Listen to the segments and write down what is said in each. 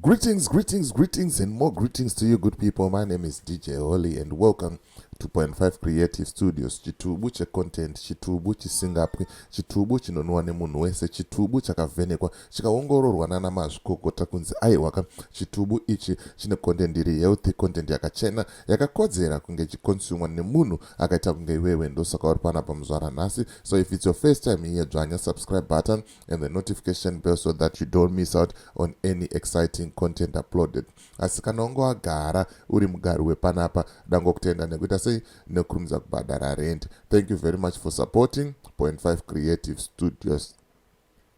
Greetings, greetings, greetings, and more greetings to you, good people. My name is DJ Holly, and welcome to Point Five Creative Studios. Chitubu che content, chitubu chisingapwi, chitubu chinonwa nemunhu wese, chitubu chakavhenekwa, chikaongororwa nana mazvikokota kunzi aiwaka. Chitubu ichi chine content iri healthy, content yakachena, yakakodzera kunge chikonsumwa nemunhu akaita kunge iwewe. Ndosaka uri pana pamuzvara nhasi. So if it's your first time here, dzvanya subscribe button, and the notification bell so that you don't miss out on any exciting content uploaded asi kana unge wagara uri mugari wepanapa dangokutenda nekuita sei nekurumidza kubhadhara rent thank you very much for supporting point 5 creative studios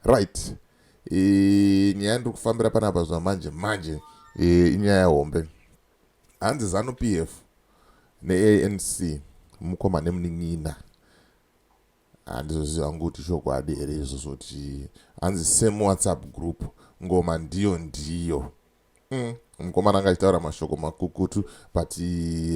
right nyaya ndiri kufambira panapa zva manje manje inyaya hombe hanzi zanu p f neanc mukoma nemunin'ina Handizoziva hangu kuti chokwadi here izvozvo kuti hanzi same whatsapp group ngoma ndiyo ndiyo. Mm, mukomana anga achitaura mashoko makukutu but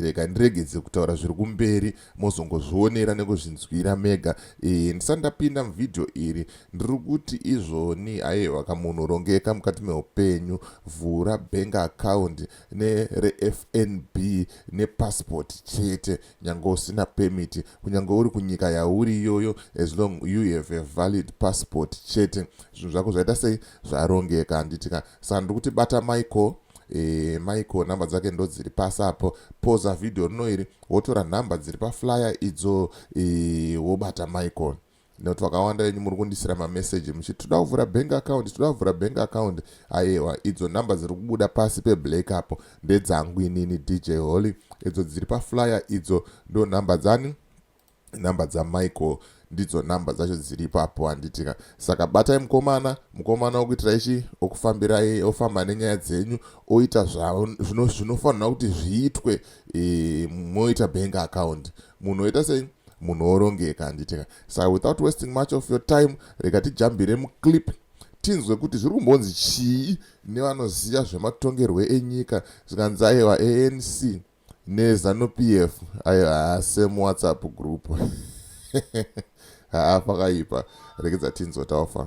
rega ndiregedze kutaura zviri kumberi mozongozvionera nekuzvinzwira mega e, ndisati ndapinda muvhidhiyo iri ndiri kuti izvoni aiwa kamunhu rongeka mukati meupenyu vhura bank account nerefnb nepassport chete nyange usina permit kunyange uri kunyika yauri iyoyo as long you have a valid passport chete zvinhu zvako zvaita sei zvarongeka handitika saka ndiri kuti bata michael e, michael nhamba dzake ndo dziri pasi apo poza vhidhiyo rino iri wotora nhamba dziri paflyer idzo e, wobata michael nekuti vakawanda venyu muri kundisira mameseji muchiti toda kuvhura bank account toda kuvhura bank account ayewa idzo number dziri kubuda pasi peblack apo ndedzangu inini dj holy idzo dziri paflyer idzo ndo number dzani number dzamichael ndidzo number dzacho dziri ipapo handitika saka batai mukomana mukomana wokuitira ichi okufambirai ofamba nenyaya dzenyu oita zvinofanirwa kuti zviitwe e, moita bank account e, munhu oita sei munhu orongeka handiteka sa without wasting much of your time rega tijambire muclip tinzwe kuti zviri kumbonzi chii nevanoziva zvematongerwe enyika zvikanzi aiwa anc nezanup f aiwa same whatsapp group haa pakaipa rekedza tinzwe taofa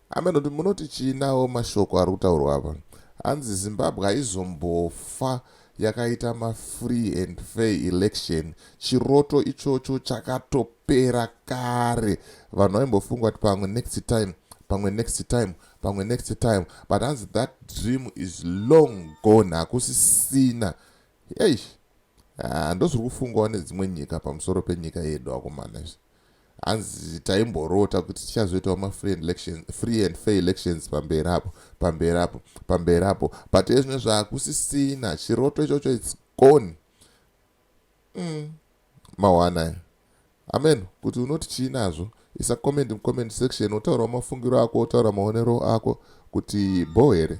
Amen kuti munoti chii nawo mashoko ari kutaurwa apa hanzi zimbabwe haizombofa yakaita mafree and fair election chiroto ichocho chakatopera kare vanhu vaimbofunga kuti pamwe next time pamwe next time pamwe next time but hanzi that dream is long gone hakusisina eish ah, ndozviri kufungwa nedzimwe nyika pamusoro penyika yedu akomana izvi hanzi taimborota kuti tichazoitawo mafree and fair elections pamberi apo pamberi apo pamberi apo but ezvino zvakusisina chiroto ichocho its gone mm. mawanaya amen kuti unoti chii nazvo isa comment mucomment section wotaurawo mafungiro ako wotaura maonero ako kuti bho here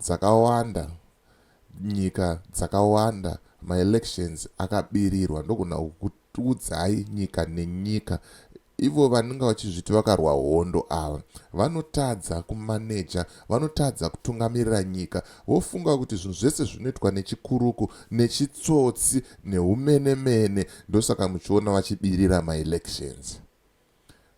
dzakawanda nyika dzakawanda maelections akabirirwa ndogona kukuudzai nyika nenyika ivo vanenge vachizviti vakarwa hondo ava vanotadza kumaneja vanotadza kutungamirira nyika vofunga kuti zvinhu zvese zvinoitwa nechikuruku nechitsotsi neumenemene ndosaka muchiona vachibirira maelections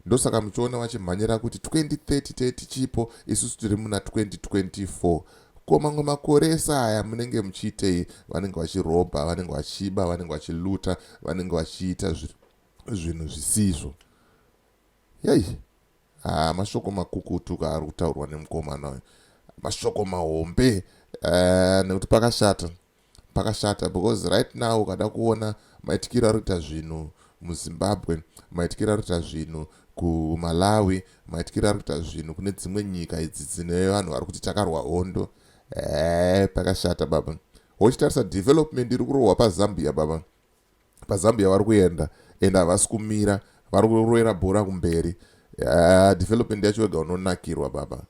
Ndosaka muchiona vachimhanyira kuti 2030 tichipo isusu tiri muna 2024. Ko mamwe makore ese aya munenge muchiitei? Vanenge vachirobha, vanenge vachiba, vanenge vachiluta, vanenge vachiita zvinhu zvisizvo. Yei, ah, mashoko makukutu kaari kutaurwa nemukomana uyu, mashoko mahombe uh, nekuti pakashata Pakashata because right now ukada kuona maitikiro ari kuita zvinhu muZimbabwe, maitikiro ari kuita zvinhu kuMalawi, maitikiro ari kuita zvinhu kune dzimwe nyika idzi dzine vanhu vari kuti takarwa hondo. Ehe, pakashata baba. Wochitarisa development iri kurohwa paZambia baba. PaZambia vari kuenda and havasi kumira, vari kuroera bhora kumberi. Ehe, development yacho wega unonakirwa baba.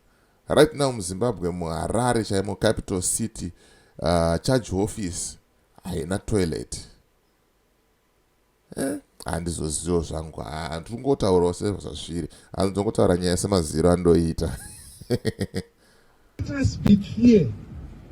Right now muZimbabwe muHarare chaimo capital city uh, charge office haina toilet eh, handizozivo zvangu handiri kungotaurawo sezvazviri handizongotaura nyaya semaziro andoita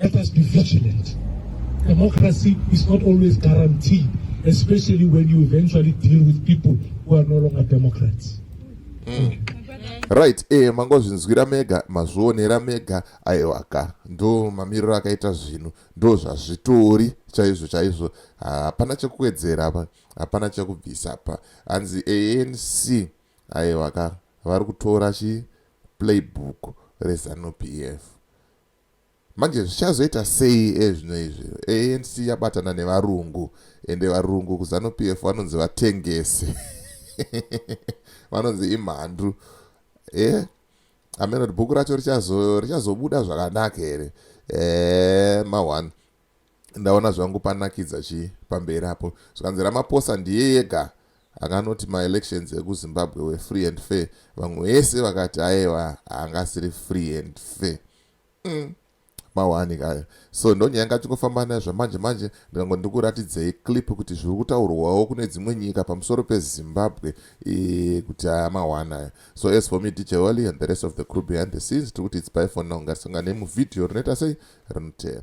Let us be vigilant. Democracy is not always guaranteed, especially when you eventually deal with people who are no longer democrats. Mm. right e eh, mangozvinzwira mega mazvionera mega aiwaka ndo mamiriro akaita zvinhu ndo zvazvitori chaizvo chaizvo hapana chekuwedzera apa hapana chekubvisa apa hanzi anc aiwaka vari kutora chi playbook rezanupf Manje zvichazoita sei ezvino izvi ANC yabatana nevarungu ende varungu kuZanu PF vanonzi vatengesi vanonzi imhandu eh ameno bhuku racho richazobuda zvakanaka here eh ma one ndaona zvangu panakidza chii pamberi apo zvikanzi ramaposa ndiye yega akanoti maelections ekuzimbabwe were free and fair vamwe vese vakati ayewa haangasiri free and fair mm. mawani kayo so ndonyaya ngachingofamba nayo zvamanje manje ndikango ndikuratidzei clip kuti zviri kutaurwawo kune dzimwe nyika pamusoro pezimbabwe e, kuti aya mawani ayo so as for me dj wally and the rest of the crew behind the scenes tiri kuti its by for now ngatisonganei muvhidhiyo rinoita sei rinotera